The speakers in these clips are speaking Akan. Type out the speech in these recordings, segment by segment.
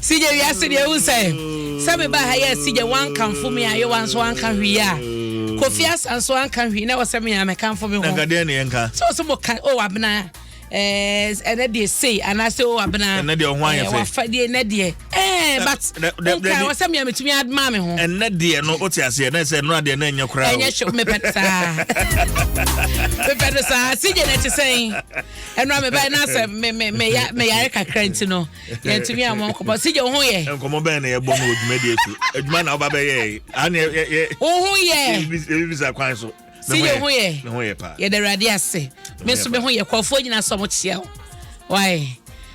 sigye wiase deɛ ehu sɛ sɛ me ba ha yɛ sigye wankanfo mi ayewa nso anka hwii a mm. kofi asa nso anka hwii na wɔsɛ me ame kanfo mi ho nkadeɛ ne yɛn ka so so mo ka o abena ɛɛ eh, ɛnɛ deɛ sei anaasɛ o abena ɛnɛ deɛ ɔho ayɛ eh, fɛ wafa deɛ ɛnɛ deɛ ɛɛ eh, but nka wɔsɛ me ame tumi aduma mi ho ɛnɛ deɛ no o ti aseɛ ɛnɛ sɛ ɛnura deɛ ɛnɛ nyɛ koraa o ɛnyɛ hyɛ mepɛ saa mepɛ no saa sigye na ɛte sɛn. ɛnura mi bɛyɛ n'asɛ mɛ mɛ mɛ ya mɛ yare kakra nti no yɛn tumi a mo nkɔmɔ si yɛ ohun yɛ. nkɔmɔ bɛyɛ na yɛ bɔ no odwuma di esu edwuma na ɔba bɛ yɛ yi ani yɛ yɛ. ohun yɛ ebi bisa kwan so. si yɛ ohun yɛ yɛ dɛ awurade ase mi nso mi ho yɛ kɔfo nyina sɔn mo kyia o waaye.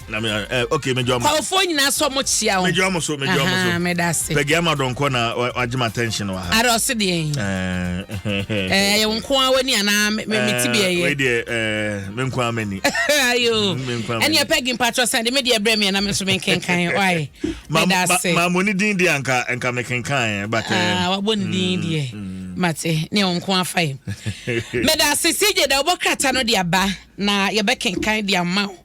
na me ɛ ok me jɔ mo. kɔɔfoɔ nyinaa sɔ mo kyia o. me jɔ mo so me jɔ mo so. me da se. pɛgɛ ama dɔn kɔ na wagye ma attention wɔ ha. ara ɔsi deɛ yi. ɛɛ yɛ nko ara wani anaa me me ti bi ɛyɛ. wei deɛ ɛɛ me nko ara mɛ ni. ayo ɛni ɛpɛ gi mpatsɔ san de me deɛ brɛ mi ɛna mi nso mi nkenkan ɔye. me da se. maa mo ni din deɛ nka nka mi kenkan yɛ batɛ. aa wabɔ ni din deɛ mate ne yɛ nko afa yi. me da se si gye da ɔbɔ krata no de aba na yɛbɛ kenkan de ama o.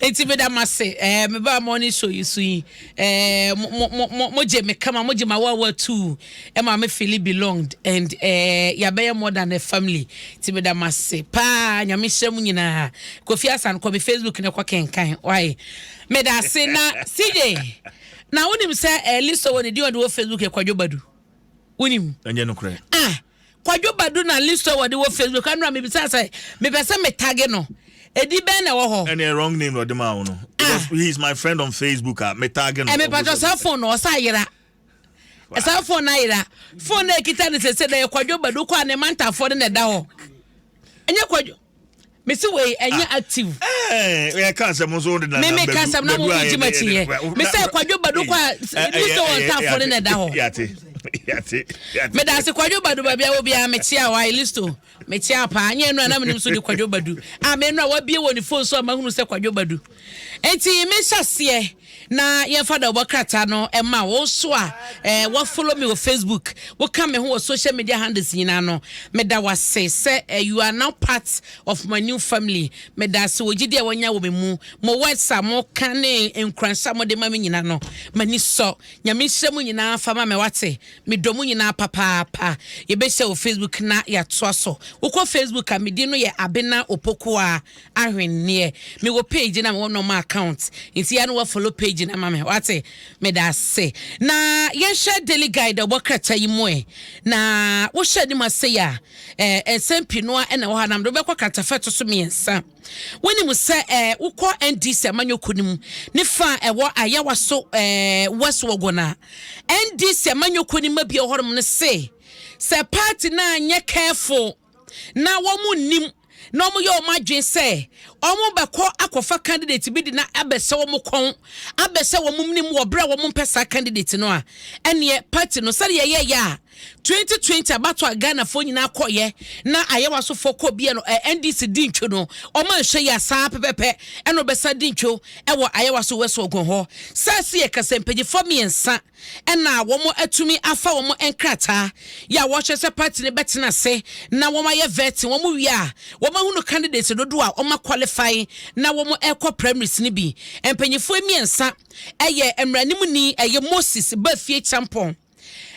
Enti meda mo ase, eh, me ba morning show yi so yi, eh, mo, mo, mo, mo, mo gye me kama, mo gye ma wa wa tu, eh, ma me feel belonged, and eh, yabɛyɛ more than a family. Enti meda mo ase, paa, nyame nhyira mu nyinaa. Kofi Asan, kɔ me Facebook ne kɔ kenkan, why? Meda ase, na CJ, na wonim sɛ eh, list wɔ ne di ɔde wɔ Facebook yɛ kwadwo badu. Wonim? Ɛnyɛ no korɛ. Ah! Kwadwo Badu na Listowel wɔde wɔ Facebook ano a mebisaa sɛ mepɛ sɛ me tag no. Ɛdi bɛn na ɛwɔ hɔ? Ɛne wrong name na ɔde maa wo no. Because ah. he is my friend on Facebook a me tag no. Ɛmepatɔ saa phone no ɔsa ayera. Saa phone no ayera. Phone no ekita no sese na yɛ Kwadwo Badu kɔ a ne mantafoɔ no na ɛda hɔ. Ɛnyɛ Kwadwo. mesi wei ɛnyɛ ah. active. ɛɛ eh, yɛ ka asɛm nso o de na namba ka asɛm na mo mo gyima ti yɛ mesɛ kwadwo badu kɔ a mi sɛ wɔn ntaafo ne na ɛda hɔ. meda ase kwadwo badu baabi a obi a mekyia wa listo mekyia paa nyɛ nnura na menim so de kwadwo badu a me nnura wabie wɔ ne fon so a mahunu sɛ kwadwo badu. Enti me hyɛ aseɛ na yɛn fa dɔbɔ krataa no ma wo so a eh, wa follow me wɔ Facebook wo ka me ho wɔ social media handles nyinaa no me da wase sɛ eh, you are now part of my new family me da ase wɔ gyidi a wanya wɔ me mu mo words a mo ka ne nkuranhyɛ a mo de ma me nyinaa no m'ani sɔ nyame nhyira mu nyinaa fa ma me wate me dɔ mu nyinaa papaapa yɛbɛhyɛ wɔ Facebook na yɛatoa so wokɔ Facebook a me din no yɛ Abena Opokuaa Ahwenneɛ me wɔ page na me wɔ normal account nti ya no wa follow page na ma me wate me da se na yɛnhwɛ daily guide ɔbɔ krataa yi mu ɛ na wohyɛ anim ase ya eh, nsɛm pii noa ɛna wɔ ha nam de wobɛkɔ kratafa ɛto so mmiɛnsa wonim sɛ eh, wokɔ ndc amanyɔku no mu ne fa a ɛwɔ ayawa so eh, west wɔgɔ no a ndc amanyɔku no ma bi ɔhɔnom no se sɛ party no anyɛ careful na wɔn nnim na wɔn yɛ wɔn adwene sɛ wɔn bɛkɔ akɔfa candidate bi de na abɛsɛ wɔn kɔn abɛsɛ wɔn nim wɔ bere a wɔn mpɛ saa candidate no a ɛneɛ party no sɛdeɛ yɛyɛ yɛ a 2020 abato a Ghanafoɔ nyinaa kɔyɛ na ayɛwa sofoɔ kɔ bia no NDC di ntwo no wɔn anhwɛ yɛ asaa pɛpɛpɛ ɛna ɔbɛsa di ntwo ɛwɔ ayɛwa so wɛso ɔgɔn hɔ sɛ ɛsi yɛ kasɛmpanyinfoɔ mmiɛnsa na wɔatumi afa wɔn nkrataa yɛ a wɔkyerɛ sɛ party no bɛtena ase na wɔayɛ vetting, wɔn wie a wɔahunu candidates dodoɔ a wɔn qualify na wɔn ɛkɔ primaries no bi. Mpanyifoɔ mmiɛnsa ɛyɛ mmaranimni ɛyɛ Moses Bafie Champon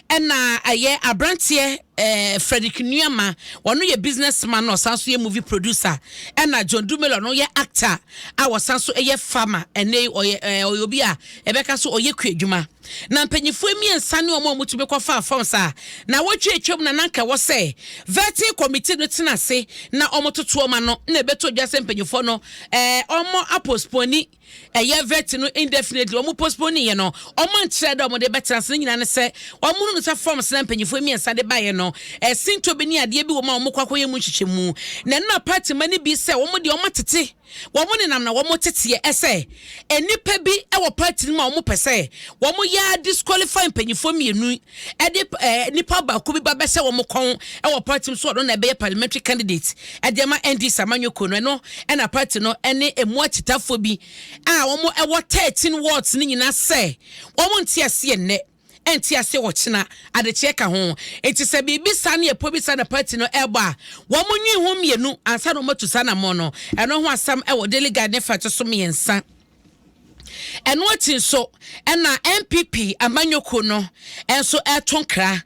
ɛna ɛyɛ aberanteɛ eh, Frederick Nuama wɔn yɛ business man na ɔsan so yɛ movie producer ɛna John Dumelo no yɛ actor a wɔsan so yɛ farmer ɛnɛ ɔyɛ eh, ɔyɛ obi a Ɛbɛka sɛ ɔyɛ kuadwuma, na mpanyimfoɔ mmiɛnsa ne wɔn a wɔtumi kɔfaa fam saa. Nnawɔtwe a atwam na na anka ɛwɔ sɛ vetting committee no tena ase na wɔtoto wɔn ano, na ɛbɛtɔ dwa sɛ mpanyimfoɔ no eh, wɔapostpone ɛyɛ vetting no indefinitely. Wɔn postponeeɛ no, wɔankyerɛ dɛ wɔde bɛtena ase. Ne nyinaa ne sɛ wɔhunu sɛ forms na mpanyimfoɔ mmiɛnsa de baeɛ no, ɛsintɔ bi ne adeɛ bi wɔ mu a wɔkɔ akɔyɛ mu nhyehyɛmu, na ɛna party mma no bi sɛ wɔn deɛ wɔatete Wɔn nenam na wɔn teteɛ ɛsɛ nnipa bi wɔ party no mu a wɔn pɛ sɛ wɔn yɛ a disqualify mpanyinfoɔ mmienu ɛde ɛɛ nipa baako bi ba bɛhyɛ wɔn kɔn ɛwɔ party no mu so ɔno na ɛbɛyɛ parliamentary candidate ɛde ɛma NDC amanyɔkuo no ɛno ɛna party no ɛne ɛmu akyitafoɔ bi a wɔn ɛwɔ thirteen wards no nyinaa sɛ wɔn nte aseɛ nnɛ. ɛnte ase ɔkyena, adekyeɛ ka ho. Enti sɛ biribi saa ne ɛpɔ bi saa na party no ɛrebɔ a, wɔnwene ho mmienu ansa na wɔatu saa anammɔn no. Ɛno ho asɛm wɔ Daily Guide ne fa ɛtɔso mmiɛnsa. Ɛno akyi nso na NPP amanyɔkuo no nso ɛreto nkra.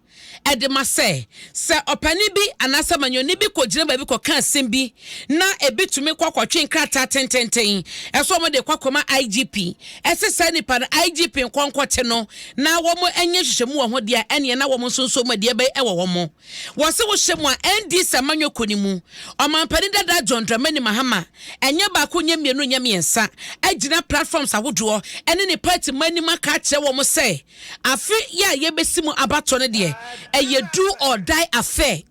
de ma sɛ, sɛ ɔpanin bi anaa samanyɔni bi kɔgyina baabi kɔka asɛm bi na ebi tumi kɔ akɔtwe nkrataa tententen sɛ wɔde rekɔ akɔma IGP sɛ saa nipa no IGP nkɔ nkɔte no na wɔnyɛ nhyehyɛmu wɔ ho deɛ a, ɛnneɛ na wɔn nso nso mu deɛ bɛyɛ wɔ wɔn. Wɔse wohyɛ mu a, NDC amanyɔ kɔ ne mu. Ɔmampanin dada John Dramani Mahama, ɛnyɛ baako, nyɛ mmienu, nyɛ mmiɛnsa, agyina platforms ahodoɔ ne ne party mma anim aka akyerɛ wɔn sɛ, Afe yi a yɛbɛsi mu abatoɔ no deɛ, ɛyɛ do or die affair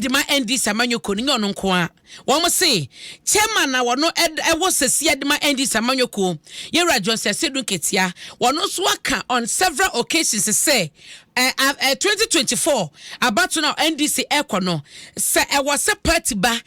de ma NDC amanyɔkuo no, nyɛ ɔno nko ara. Wɔn se Chairman a wɔno ɛwɔ sesia de ma NDC amanyɔkuo, Yɛwura Johnson Asiedu Nketia, wɔno nso aka on several occasions sɛ, 2024 abatoɔ no a NDC ɛrekɔ no, Sɛ ɛwɔ sɛ pati ba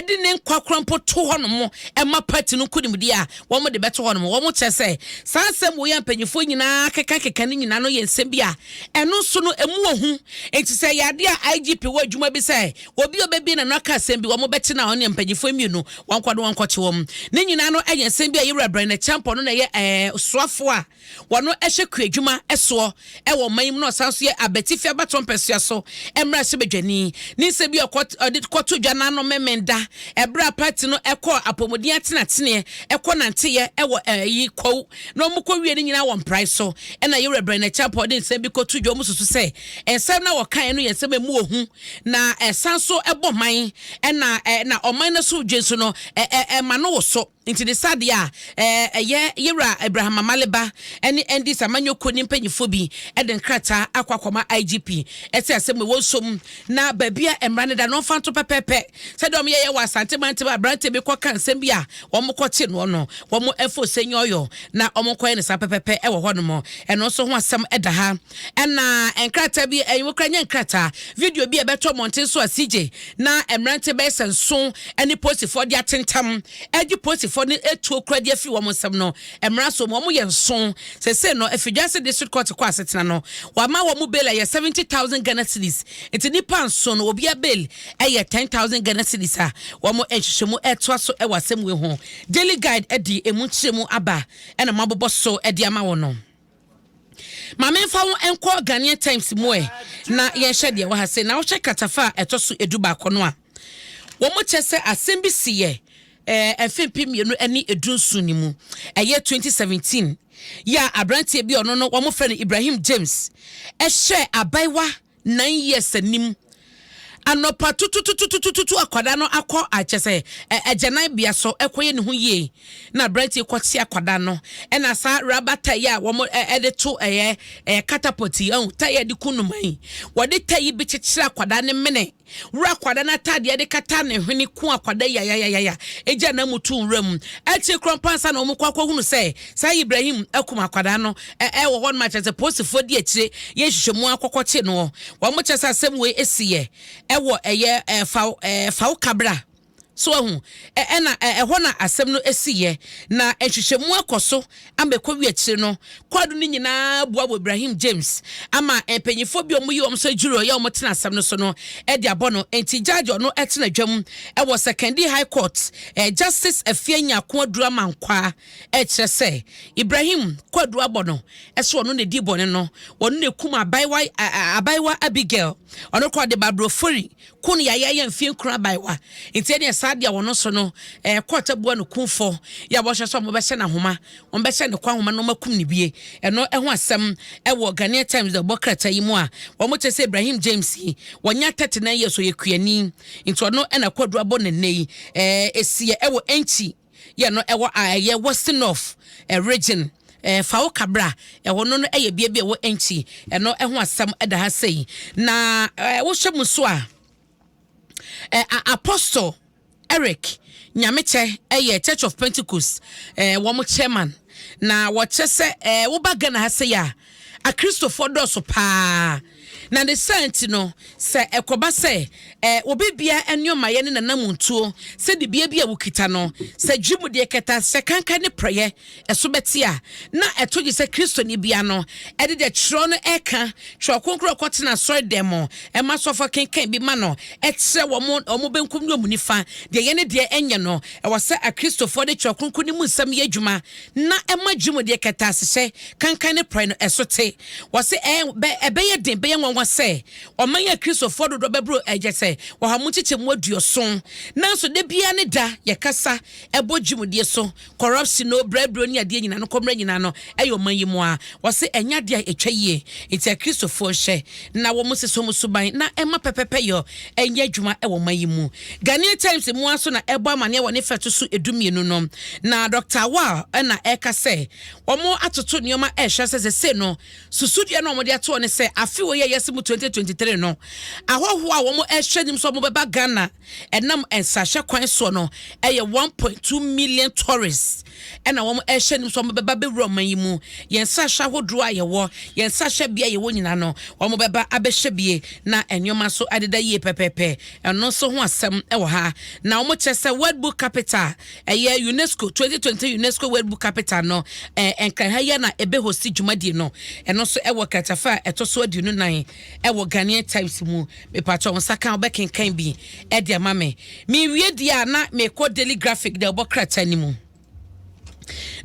de ne nkwa kora mpo to hɔnom ma pati no nkonimdie a, wɔde bɛto hɔnom. Wɔkyerɛ sɛ saa nsɛm wei a mpanimfoɔ nyinaa kekakeka no nyinaa no yɛ nsɛm bi a ɛno nso no ɛmu wɔ ho. Enti sɛ ɛyɛ adeɛ a IGP wɔ adwuma bi sɛ obi a ɔbɛbie n'ano aka asɛm bi, wɔbɛkye no a ɔne mpanimfoɔ mmienu wɔnkɔ ne wɔnkɔkye wɔn. Ne nyinaa no yɛ nsɛm bi a Yewura Brɛn Acheampong no na ɛyɛ soafoɔ a Wɔno ɛhwɛ kuadwuma soɔ wɔ ɔman yi mu na ɔsan nso yɛ abatifi abatoɔ mpɛsoa so mmarahyɛbadwani. Ne nsa bi a ɔkɔ ɔde kɔto dwa n'ano mmɛmɛn da ɛberɛ a party no ɛkɔɔ apɔmuden atenateneɛ ɛkɔ nanteeɛ ɛwɔ ɛyi Kwawu na wɔn kɔ wie ne nyinaa wɔ mprae so ɛna Yewura Brɛnɛ Acheampong de nsɛm bi kɔto dwa wɔn susu sɛ nsɛm na wɔkaeɛ no yɛ nsɛm a ɛmu ɔhu na ɛsan so ɛbɔ man ɛna ɛna ɔman no so dwe nso no ɛɛ ɛma no wɔ so. Nti ne saa deɛ a, ɛyɛ yɛ wura Abraham Amale ba ne NDC amanyɔ kuo ne mpaninfoɔ bi de nkrataa akɔ akɔma IGP sɛ asɛm wɔ nsom na baabi a mmara no da no ɔmfa nto pɛpɛɛpɛ sɛdeɛ wɔn yɛyɛ wɔ Asante mantam a aberanteɛ bi kɔ ka nsɛm bi a wɔn kɔ te noɔ no wɔn mfa osɛnyi ɔyɔ na wɔn nkɔ yɛ no saa pɛpɛɛpɛ wɔ hɔ nom ɛno nso ho asɛm da ha ɛna nkrataa bi ɛnwo kora nyɛ nkrataa video bi a ɛbɛtɔ mmɔnten so a CJ na mmerante bɛyɛ sɛ nson ne polisifoɔ de atentam agye polisifoɔ no atuo kura de afiri wɔn nsam no mmara so wɔn yɛ nson sese no afidwase district court kɔ asetena no wɔama wɔn bail ɛyɛ seventy thousand Ghana cedis nti nipa nson no obiara bail ɛyɛ ten thousand Ghana cedis a wɔn nhyehyɛmu ɛtoa so ɛwɔ asɛm wei ho Daily Guide ɛde emu nkyerɛmu aba ɛna mo abobɔ so ɛde ama wɔn no. Ma memfa wo nkɔ Ghanaian Times mu ɛ, na yɛnhwɛ deɛ ɛwɔ ha sei. Na wohwɛ kratafa a ɛtɔ so edu baako no a, wɔkyɛ sɛ asɛm bi si yɛ ɛɛ mfe mpem mmienu ne edu nson no mu. Ɛyɛ 2017 yɛ a aberanteɛ bi a ɔno no wɔfrɛ no Ibrahim James ɛhyɛɛ abaayewa nine years anim anɔpa tututututututu akwadaa no akɔ akyɛ sɛ ɛ agyananbea so ɛkɔyɛ ne ho yie na aberanteɛ yi kɔte akwadaa no ɛna saa raba tae a wɔn ɛ ɛde to ɛyɛ ɛyɛ catapult yi ɛho tae a ɛde ku nnomaa yi wɔde tae yi bi kyekyere akwadaa no mene wura akwadaa no ataadeɛ de kata ne hwene ku akwadaa yi ayayayaya egya na mu tu nwura mu akyire korɔ mpansa na wɔn kɔ akɔhunu sɛ saa Ibrahim akum akwadaa no Ɛ ɛ wɔ hɔ nom a kyerɛ sɛ poosifoɔ di akyire yɛ nhwehwɛmu ara kɔkɔ kye noɔ. Wɔn kyerɛ sɛ asɛm wei si yɛ ɛ wɔ ɛ yɛ ɛ fa wo ɛ fa wo ka bra. So wahu? Ɛ ɛ na ɛ ɛ hɔ na asɛm no si yɛ. Na nhwehwɛmu akɔ so ama ɛkɔ wie akyire no, kwaadu no nyina ara bua wɔ Ibrahim James ama mpanyinfoɔ bi a wɔyi wɔn sɛ jury a ɔyɛ wɔn tena asɛm no so no de abɔ no. Nti judge ɔno tena dwam wɔ Sekondi High Court, Justice Afia Nyarko Aduru Amankwaa. Ɛkyerɛ sɛ Ibrahim kwadua bɔ no sɛ ɔno na di bɔne no, ɔno na ekum abaayewa abaayewa Abigail, ɔno kora de babrofori ko no yɛayɛyɛ mfie nkron abaayewa. Nti ɛne saa deɛ wɔn so no ɛɛ kɔɔta bua no kumfɔ yɛ a wɔhyɛ sɛ wɔbɛhyɛ no ahoma, wɔbɛhyɛ ne kɔ ahoma na wɔakum ne bie. Ɛno ɛho asɛm ɛwɔ Ghanaian Times ɛbɔ krataa yi mu a wɔn kyerɛ sɛ Ibrahim James yi wɔnya 39 years ɔyɛ kuani nti ɔno ɛna kwadua bɔ ne nnɛ yi ɛɛ esiɛ ɛwɔ Enchi. yɛ no ɛwɔ a ɛyɛ Western North Region, Fawo Kabra, ɛhɔ no no ɛyɛ bea bi a ɛwɔ Enchi, ɛno ɛho asɛm ɛda ha sei. Na wohwɛ mu so a, Apostle Eric Nyamekyɛ ɛyɛ Church of Pentecost wɔn chairman, na wɔkyɛ sɛ woba Ghana ha sei a, Akristofoɔ dɔɔso pa ara, na ne saa nti no, sɛ ɛkɔba sɛ obi biara nneɛmayɛ ne n'anamontuo, sɛ dibea bi a wokita no, sɛ dwemudeɛ kɛtɛ ase, sɛ kankan ne prɛyɛ, ɛso bɛte a, na ɛto gye sɛ Kristoni bea no de deɛ twerɛ no reka, twerɛ kronkron a ɔkɔtena asɔredan mu ma asɔfoɔ kenkan bi ma no, kyerɛ wɔn wɔn benkum ne wɔn nifa deɛ ɛyɛ ne deɛ ɛnyɛ no. Ɛwɔ sɛ Akristofoɔ de twerɛ kronkron no mu nsɛm yɛ adwuma. na ɛma dwumadie kɛtɛasehyɛ, kankan ne prɛ no ɛso te. Wɔse ɛɛ bɛ ɛbɛyɛ den, ɛbɛyɛ nwanwa sɛ ɔman yi Akristofoɔ dodoɔ bɛboro ɛyɛ sɛ ɔha mu nkyekyɛmu aduoson. Nanso da biara ne da yɛkasa ɛbɔ dwumadie so, kɔrɔpsyen o, brɛbrɛ o ne adeɛ nyinaa no, kɔmmerɛ nyinaa no ɛyɛ ɔman yi mu a. Wɔse ɛnyɛ adeɛ a ɛtwa yie. Nti Akristofoɔ nhyɛ na wɔn nsesa wɔn suban na ɛma pɛpɛpɛyɔ ɛnyɛ adwuma ɛwɔ ɔman yi mu. Ghanaian Times mmoa nso na ɛrebɔ amaneɛ wɔ ne fa a ɛto so du mmienu no, na Dɔkta Awal na ɛreka sɛ wɔatoto nneɛma rehyɛ ase sesei no. Susudua no a wɔde atoɔ ne sɛ afe wei a yɛreyɛ ase mu 2023 no, ahɔhoɔ a wɔrehwɛ anim sɛ wɔbɛba Ghana ɛnam nsrahwɛ kwan soɔ no yɛ 1.2 million tourists na wɔrehwɛ anim sɛ wɔbɛba abɛwura ɔman yi mu. Yɛn nsrahwɛ ahodoɔ a yɛwɔ, yɛn nsrahwɛbea a yɛwɔ nyinaa no, wɔbɛba abɛhwɛ bie na nneɛma nso adeda yie pɛpɛɛpɛ. Ɛno nso ho asɛm wɔ ha. Na wɔkyerɛ sɛ World Book Capital, ɛyɛ UNESCO 2020 UNESCO World Book Capital no, eh, Nkranha yɛ na ɛbɛhosi dwumadie no. Ɛno nso ɛwɔ kratafa a ɛtɔ so aduonu nan ɛwɔ Ghanaian Times mu. Mepatwɔ wo nsa ka a wobɛkenkan bi ɛde ama me. Mewie deɛ a na mekɔ Daily Graphic deɛ wɔbɔ krataa no mu.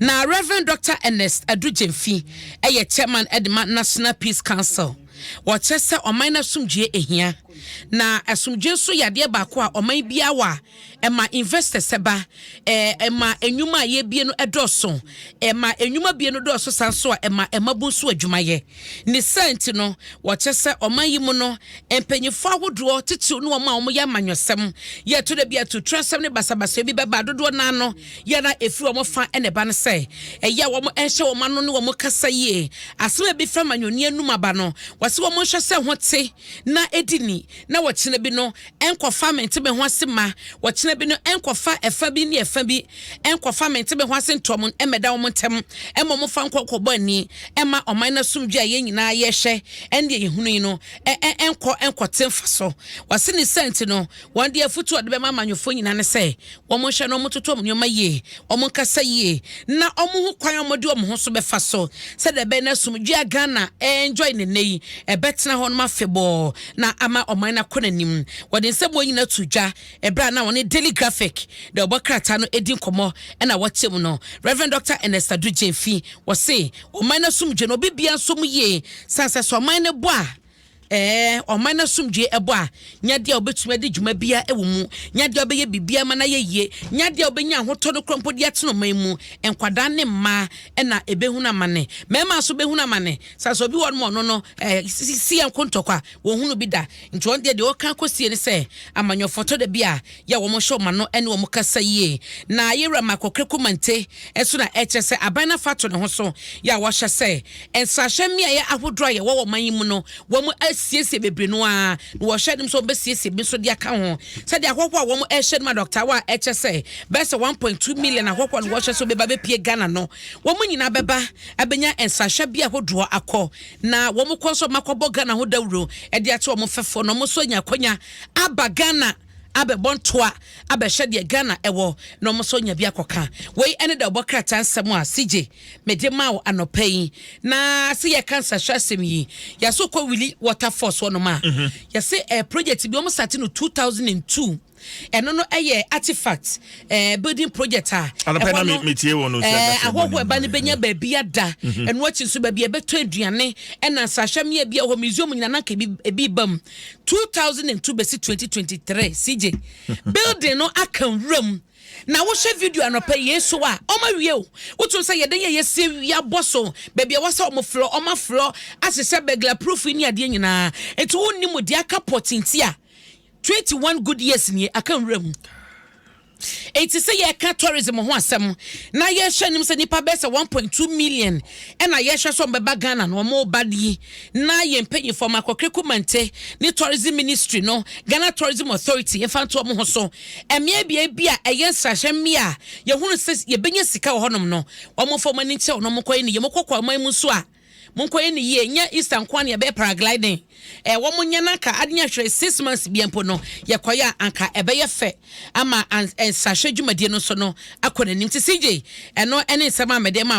Na Rev. Dɔkta Ernest Adu Gyamfi yɛ Chairman de ma National Peace Council. Wɔkyerɛ sɛ ɔman no asomdwoeɛ ahia, na asomdwoeɛ nso yɛ adeɛ baako a ɔman biara wɔ a ɛma investors ba, ɛma nnwuma a yɛbie no dɔɔso, ɛma nnwuma bie no dɔɔso saa nso a ɛma mmabunu nso adwuma yɛ. Ne saa nti no, wɔkyerɛ sɛ ɔman yi mu no, mpanyimfo ahodoɔ, titiriw ne wɔn a wɔyɛ amanyɔsɛm, yɛ to da bi a atuturasɛm ne basabasayɛ bi bɛba a dodoɔ no ara no, yɛ na ɛfiri wɔn fa na ɛba no sɛ, ɛyɛ a wɔnhyɛ wɔn ano ne wɔn kasa yie. Asɛm a ɛbɛfiri amanyɔni anom aba no, wɔsɛ wɔnhwɛ sɛ ɛho te na ɛdi ni, na wɔkyena bi no Ɛnkɔfa mente me ho ase mma wɔkyena bi no, ɛnkɔfa ɛfa bi ne ɛfa bi, ɛnkɔfa mente me ho ase ntoam mmɛda wɔn ntam, mmom momfa nkɔ kɔbɔ ani mma ɔman no asomdwoeɛ a yɛn nyinaa yɛhwɛ ne deɛ yɛhunu yi no ɛnkɔ nkɔte mfasoɔ. W'asennisa nti no, wɔn deɛ afotuo a wɔde bɛma amanyɔfoɔ nyinaa ne sɛ, Wɔnhwɛ na wɔtoto wɔn nneɛma yie, wɔnkasa yie na wɔhu kwan a wɔde wɔn ho so bɛfa so sɛdeɛ ɛbɛyɛ na asomdwoeɛ a Ghana ɛɛnjɔe no nnɛ yi, ɛbɛtena hɔ nom afebɔɔ na ama ɔman no akɔ n'anim. Wɔde nsɛm wei nyinaa too dwa ɛberɛ a na wɔne Daily Graphic deɛ wɔbɔ krataa no ɛredi nkɔmmɔ ɛna wɔakyɛ mu no. Rev. Dɔkta Ernest Addo Gyamfi, wɔse ɔman no asomdwoeɛ no obi biara nsɔ mu yie sane sɛ sɛ ɔman no bɔ a, Ɛɛ, ɔman asomdwoe bɔ a, nyɛ adeɛ a wobɛtumi adi dwuma biara wɔ mu, nyɛ adeɛ a wobɛyɛ biribiara ma no ayɛ yie, nyɛ adeɛ a wobɛnya ahotɔ no korɔ mpo de atena ɔman mu. Nkwadaa ne mmaa na ɛbɛhunu amane. Mmarima nso bɛhunu amane. Sane sɛ obi wɔ hɔnom a ɔno no, ɛɛ, sisi yɛn nko ntɔkwa, wɔnhunu bi da. Nti wɔn deɛ, deɛ wɔka kɔsie ne sɛ, amanyɔfoɔ tɔ da bi a, yɛ wɔn hyɛ wɔn ano ne wɔn kasa yie. Na yɛn wura Michael Kweku Mante nso na ɛkyerɛ sɛ aban no afa ato ne ho so yɛ a wɔahyɛ sɛ nsrahwɛ mmeaeɛ ahodoɔ a yɛwɔ wɔ ɔman yi mu no wɔn asiesie bebree no ara na wɔhyɛ anom sɛ wɔbɛsiesie bi nso de aka ho sɛdeɛ ahɔhoɔ a wɔn rehyɛ nom adɔktawa a ɛkyɛ sɛ bɛyɛ sɛ 1.2 million ahɔhoɔ na wɔhyɛ sɛ wɔbɛba bɛpie Ghana no wɔn nyinaa bɛba abɛnya nsrahwɛ bi ahodoɔ akɔ na wɔn kɔ nso wɔakɔbɔ Ghana ho dawuro de akyɛ wɔn mfɛfoɔ na wɔn nso anya akɔnya aba Ghana abɛbɔ ntoa abɛhwɛ deɛ Ghana wɔ na wɔn nso anya bi akɔka. Wei ne deɛ ɔbɔ krataa nsɛm a CJ mede maa wo anɔpa yi. Na se yɛka nsrahwɛ asɛm yi, yɛaso kɔ Wili water falls hɔ nom a, yɛse ɛyɛ project bi wɔn sate no 2002. Ɛno no ɛyɛ artifact eh, building project a Anɔpa ɛhɔ na no me metie wɔn o sɛ eh, ɛbɛsɛ ahɔhoɔ ɛba no bɛnya baabi ada. Ɛno akyi nso baabi a ɛbɛtɔ aduane ɛna nsrahwɛ mmea bi a ɛwɔ hɔ museum nyinaa na anka ebi ebi ba mu. two thousand and two bɛsi twenty twenty three CJ building no aka nwura mu na wohwɛ video anɔpɛ yie so a wɔn awie o wotum sɛ yɛde yɛ yɛsi awia bɔ so baabi a wɔsɛ wɔn flɔ wɔn aflɔ ahyehyɛ burglar proof yi ne adeɛ nyinaa nti wɔn nim deɛ aka pɔtinti a twenty one good years nie aka nwura mu. Enti sɛ yɛreka tourism ho asɛm na yɛhwɛ anim sɛ nnipa bɛyɛ sɛ 1.2 million ɛna yɛhwɛ sɛ wɔbɛba Ghana no wɔba yi na yɛn mpanyinfoɔ Makɔkere Kumante ne tourism ministry no Ghana Tourism Authority mfa nto wɔn ho so mmea bea bi a ɛyɛ nsrahwɛ mmea a yɛhunu sɛ yɛbɛnya sika wɔ hɔnom no wɔmfa wɔn ani nkyerɛ wɔn wɔn kɔyɛ ne yɛn kɔkɔ aman mu nso a Monkɔ yɛ no yie nyɛ Easter nkoa na yɛbɛyɛ paragliding eh wɔn nyɛ na anka ade nyɛ hwere six months bia mpo no yɛkɔyɛ a anka ɛbɛyɛ fɛ ama nsrahwɛ dwumadie no nso no akɔ n'anim ti CJ ɛno ɛne nsɛm a mɛde ma